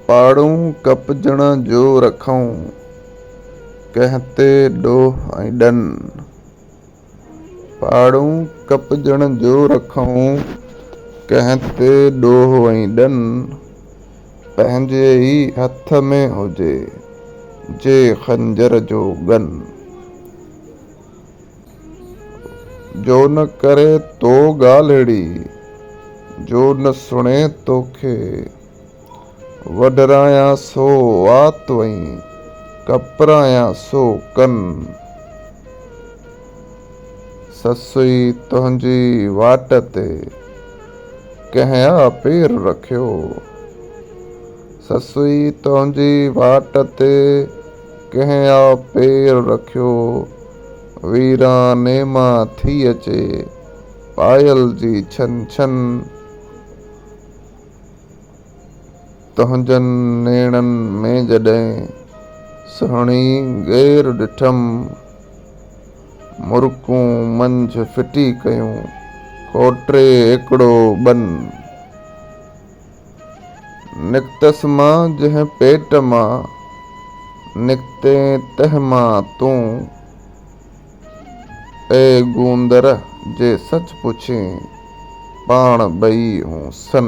پاڙون ڪپجڻ جو رکئون، ڪنهن تي ڏوهه ۽ ڏن. پاڙون ڪپجڻ جو رکئون، ڪنهن تي ڏوهه ۽ ڏن. پنهنجي ئي هٿ ۾ هجي، جي خنجر جو ڳن. جو نه ڪري تو ڳالهڙي، جو نه سڻي توکي وڍرايان سو وات وئين ڪپرايان سو ڪن. سسئي تنهنجي واٽ تي ڪنهن آ پير رکيو، سسئي تنهنجي واٽ تي ڪنهن آ پير رکيو. ويراني مان ٿي اچي پايل جي ڇن ڇن تنهنجن نيڻن ۾ جڏهن سهڻي غير ڏٺم مرڪون منجهه ڦٽي ڪيون ڪوٽري ايڪڙو ٻن. نڪتس مان جنهن پيٽ مان، نڪتين تنهن مان تون. اي گوندر! جي سچ پڇين، پاڻ ٻئي هون سن.